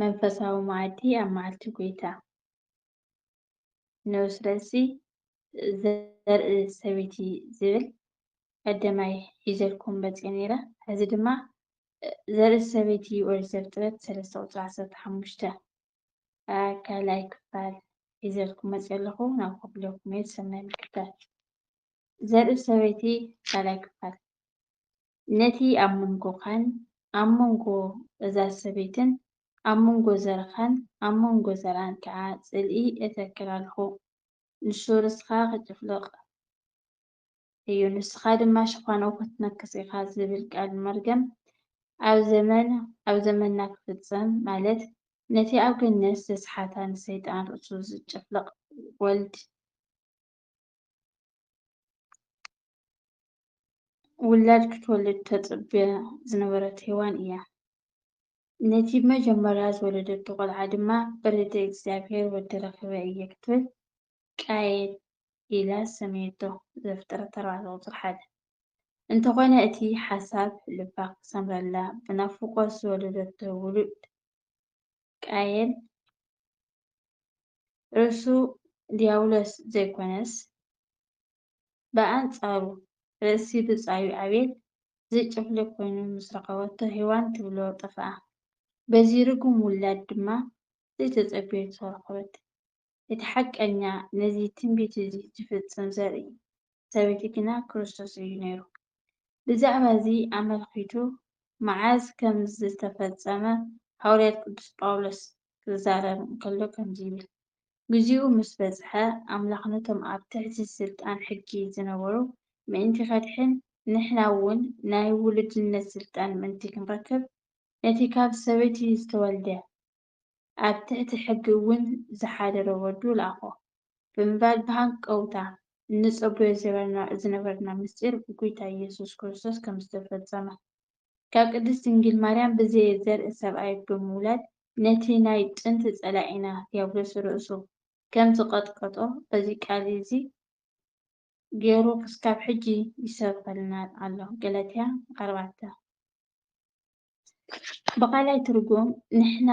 መንፈሳዊ መኣዲ ኣብ መዓልቲ ጐይታ ነው። ስለዚ ዘርኢ ሰበይቲ ዝብል ቀደማይ ሒዘልኩም መጺኤ ነይረ። ሕዚ ድማ ዘርኢ ሰበይቲ ኦሪት ዘፍጥረት ሰለስተ ቁጽሪ ዓሰርተ ሓሙሽተ ካልኣይ ክፋል ሒዘልኩም መጺኤ ኣለኹ። ናብ ከፍለኩም እየ። ሰናይ ምክትታል። ዘርኢ-ሰበይቲ ካልኣይ ክፋል፣ ነቲ ኣብ መንጎኻን ኣብ መንጎ እዛ ሰበይትን ኣብ መንጎ ዘርኻን ኣብ መንጎ ዘርኣን ከኣ ጽልኢ እተክል ኣሎኹ፣ ንሱ ርስኻ ኺጭፍልቕ እዩ፣ ንስኻ ድማ ሸፋኑ ኽትነክስ ኢኻ ዚብል ቃል መርገም ኣብ ዘመን ኣብ ዘመንና ኪፍጸም፣ ማለት ነቲ ኣብ ገነት ዘስሓታ ንሰይጣን ርእሱ ዚጨፍልቕ ወልድ፣ ውላድ ክትወልድ ተጽብያ ዝነበረት ሄዋን እያ። ነቲ መጀመርያ ዝወለደቶ ቆልዓ ድማ ብርድእ እግዚኣብሔር ወዲ ረኺበ እየ ክትብል ቃየል ኢላ ሰመየቶ ዘፍጥረት ኣርባዕተ ቁጽሪ ሓደ። እንተኾነ እቲ ሓሳብ ልባ ክሰምረላ ብናፍቆት ዝወለደቶ ውሉድ ቃየል ርእሱ ድያብሎስ ዘይኮነስ ብኣንጻሩ ርእሲ ብጻዩ ኣቤል ዝጭፍልቕ ኮይኑ ምስ ረኸበቶ ሄዋን ትብሎ ጠፍኣ። በዚ ርጉም ውላድ ድማ ዘይተጸበየቶ ረኸበት። እቲ ሓቀኛ ነዚ ትንቢት እዚ ዝፍጽም ዘርኢ ሰበይቲ ግና ክርስቶስ እዩ ነይሩ። ብዛዕባ እዚ ኣመልኺቱ መዓዝ ከም ዝተፈጸመ ሃዋርያት ቅዱስ ጳውሎስ ክዛረብ እንከሎ ከምዚ ይብል፣ ግዚኡ ምስ በጽሐ፣ ኣምላኽ ነቶም ኣብ ትሕቲ ስልጣን ሕጊ ዝነበሩ ምእንቲ ከድሕን፣ ንሕና እውን ናይ ውሉድነት ስልጣን ምእንቲ ክንረክብ፣ ነቲ ካብ ሰበይቲ ዝተወልደ ኣብ ትሕቲ ሕጊ እውን ዝሓደረ ወዱ ለኣኾ ብምባል ብሃንቀውታ እንጸበዮ ዝነበርና ምስጢር ጐይታ ኢየሱስ ክርስቶስ ከም ዝተፈጸመ ካብ ቅድስት ድንግል ማርያም ብዘየ ዘርኢ ሰብኣይ ብምውላድ ነቲ ናይ ጥንቲ ጸላኢና ድያብሎስ ርእሱ ከም ዝቐጥቀጦ በዚ ቃል እዚ ገሩ ክስካብ ሕጂ ይሰብኸልና ኣሎ ገላትያ ኣርባዕተ ብኻልኣይ ትርጉም ንሕና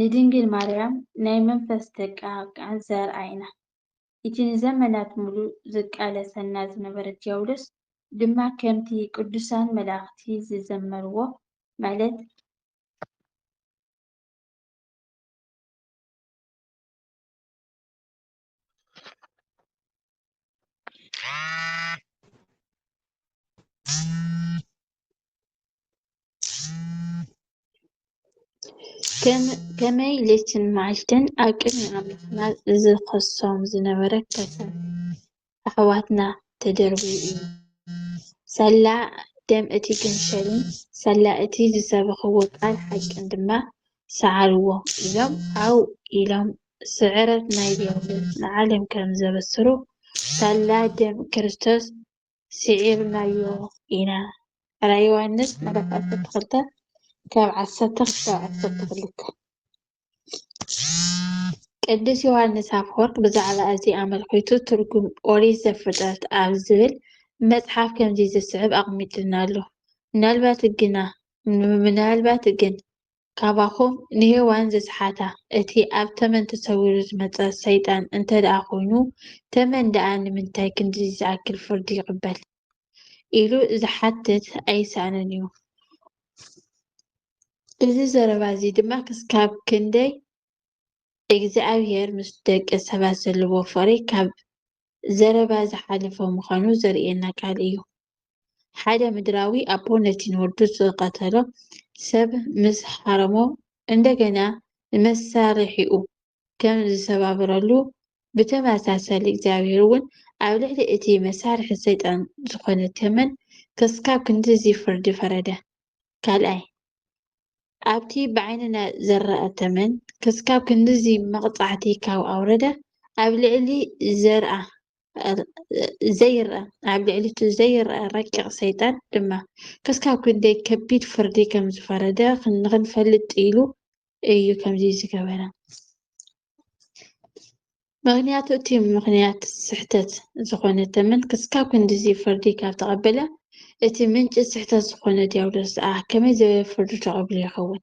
ንድንግል ማርያም ናይ መንፈስ ደቃ ቃንዘር ኣይና። እቲ ንዘመናት ምሉእ ዝቃለሰና ዝነበረ ድያብሎስ ድማ ከምቲ ቅዱሳን መላእኽቲ ዝዘመርዎ ማለት ከመይ ለይትን መዓልትን ኣብ ቅድሚ ኣምላኽና ዝኸሶም ዝነበረ ከሳብ ኣሕዋትና ተደርብዩ እዩ። ሳላ ደም እቲ ገንሸልን ሳላ እቲ ዝሰበኽዎ ቃል ሓቅን ድማ ሰዓርዎ ኢሎም ዓው ኢሎም ስዕረት ናይ ዲያብሎስ ንዓለም ከም ዘበስሩ ሳላ ደም ክርስቶስ ስዒርናዮ ኢና። ራእይ ዮሃንስ ምዕራፍ ዓሰርተ ክልተ ካብ ዓሰርተ ክሳብ ዓሰርተ ክልተ ቅዱስ ዮሃንስ ኣፈወርቅ ብዛዕባ እዚ ኣመልኪቱ ትርጉም ኦሪት ዘፍጥረት ኣብ ዝብል መጽሓፍ ከምዚ ዝስዕብ ኣቕሚጥልና ኣሎ። ምናልባት ግና ምናልባት ግን ካባኹም ንሄዋን ዝሰሓታ እቲ ኣብ ተመን ተሰዊሩ ዝመጸ ሰይጣን እንተድኣ ኮይኑ ተመን ድኣ ንምንታይ ክንድዚ ዝኣክል ፍርዲ ይቕበል ኢሉ ዝሓትት ኣይሰኣንን እዩ። እዚ ዘረባ እዚ ድማ ክስካብ ክንደይ እግዚኣብሄር ምስ ደቂ ሰባት ዘለዎ ፍቕሪ ካብ ዘረባ ዝሓለፈ ምዃኑ ዘርእየና ቃል እዩ። ሓደ ምድራዊ ኣቦ ነቲ ንወዱ ዝቐተሎ ሰብ ምስ ሓረሞ እንደገና ንመሳርሒኡ ከም ዝሰባብረሉ፣ ብተመሳሳሊ እግዚኣብሄር እውን ኣብ ልዕሊ እቲ መሳርሒ ሰይጣን ዝዀነ ተመን ክስካብ ክንድዚ ፍርዲ ፈረደ። ካልኣይ፣ ኣብቲ ብዓይንና ዝረኣ ተመን ክስካብ ክንድዚ መቕጻዕቲ ካብ ኣውረደ፣ ኣብ ልዕሊ ዘርኣ ዘይርኣ ኣብ ልዕሊቲ ዘይርኣ ረቂቕ ሰይጣን ድማ ክስካብ ክንደይ ከቢድ ፍርዲ ከም ዝፈረደ ንኽንፈልጥ ኢሉ እዩ ከምዚ ዝገበረ። ምክንያቱ እቲ ምክንያት ስሕተት ዝኾነ ተመን ክስካብ ክንዲዚ ፍርዲ ካብ ተቐበለ እቲ ምንጭ ስሕተት ዝኾነ ዲያብሎስ ኣ ከመይ ዝበለ ፍርዲ ተቐብሉ ይኸውን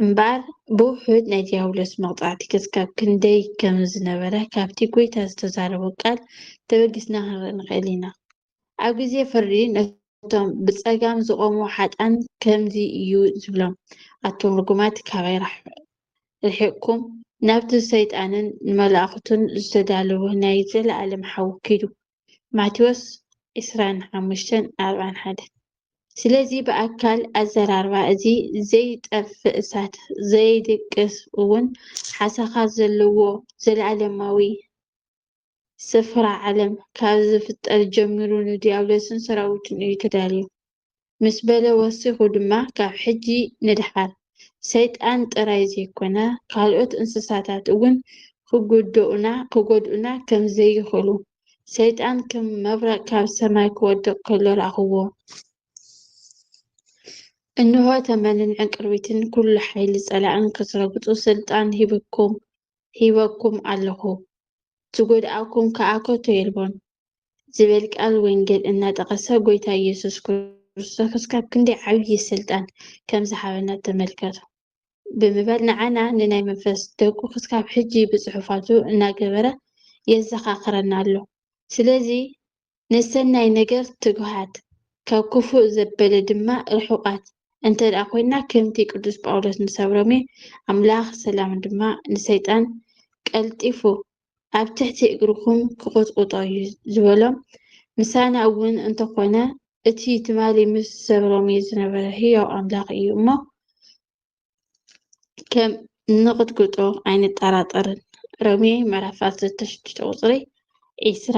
እምበኣር ብውሑድ ናይ ዲያብሎስ መቕጻዕቲ ክስካብ ክንደይ ከም ዝነበረ ካብቲ ጎይታ ዝተዛረቦ ቃል ተበጊስና ክንርኢ ንኽእል ኢና ኣብ ግዜ ፍርዲ ነቶም ብጸጋም ዝቖሙ ሓጣን ከምዚ እዩ ዝብሎም ኣቱም ርጉማት ካባይ ርሒቕኩም ናብቲ ንሰይጣንን ንመላእኽቱን ዝተዳለወ ናይ ዘለኣለም ሓዊ ኪዱ። ማቴዎስ ዕስራን ሓሙሽተን ኣርባን ሓደን። ስለዚ ብኣካል ኣዘራርባ እዚ ዘይጠፍእ እሳት ዘይድቅስ እውን ሓሳኻት ዘለዎ ዘለኣለማዊ ስፍራ ዓለም ካብ ዝፍጠር ጀሚሩ ንዲያብሎስን ሰራዊቱን እዩ ተዳልዩ ምስ በለ ወሲኹ ድማ ካብ ሕጂ ንደሓር ሰይጣን ጥራይ ዘይኮነ ካልኦት እንስሳታት እውን ክጉድኡና ክጎድኡና ከም ዘይኽእሉ ሰይጣን ከም መብረቕ ካብ ሰማይ ክወድቕ ከሎ ረኣኹዎ። እንሆ ተመንን ዕንቅርቢትን ኩሉ ሓይሊ ጸላእን ክትረግጹ ስልጣን ሂብኩም ሂበኩም ኣለኹ፣ ዝጎድኣኩም ከኣ ከቶ የልቦን ዝብል ቃል ወንጌል እናጠቐሰ ጎይታ ኢየሱስ ክርስቶስ ክሳብ ክንደይ ዓብዪ ስልጣን ከም ዝሃበና ተመልከቱ። ብምባል ንዓና ንናይ መንፈስ ደቁ ክሳብ ሕጂ ብጽሑፋቱ እናገበረ የዘኻኽረና ኣሎ። ስለዚ ንሰናይ ነገር ትጉሃት፣ ካብ ክፉእ ዘበለ ድማ ርሑቓት እንተ ደኣ ኰይንና፣ ከምቲ ቅዱስ ጳውሎስ ንሰብ ሮሜ፣ ኣምላኽ ሰላም ድማ ንሰይጣን ቀልጢፉ ኣብ ትሕቲ እግርኹም ኪቝጥቍጦ እዩ ዝበሎም፣ ምሳና እውን እንተ ዀነ፣ እቲ ትማሊ ምስ ሰብ ሮሜ ዝነበረ ህያው ኣምላኽ እዩ እሞ፣ ከም እንቕጥቅጦ ኣይንጠራጠርን። ሮሜ ምዕራፍ ዓሰርተ ሽዱሽተ ቁፅሪ ዒስራ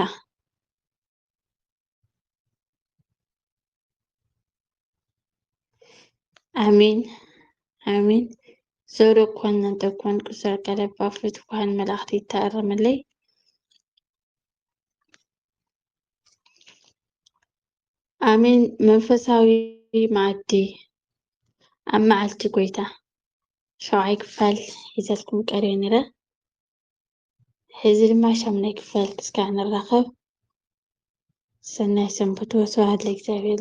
ኣሜን ኣሜን። ዘውዶ ኮን እንተኮን ቅሰር ቀለባ ፍት ኳን መላእክት ይታረምለይ ኣሜን መንፈሳዊ መኣዲ ኣብ መዓልቲ ጎይታ ሸውዓይ ክፋል ሒዘልኩም ቀርየ ነይረ ሕዚ ድማ ሻምናይ ክፋል ክስካዕ ንራኸብ ሰናይ ሰንብቱ ስብሓት ለእግዚኣብሔር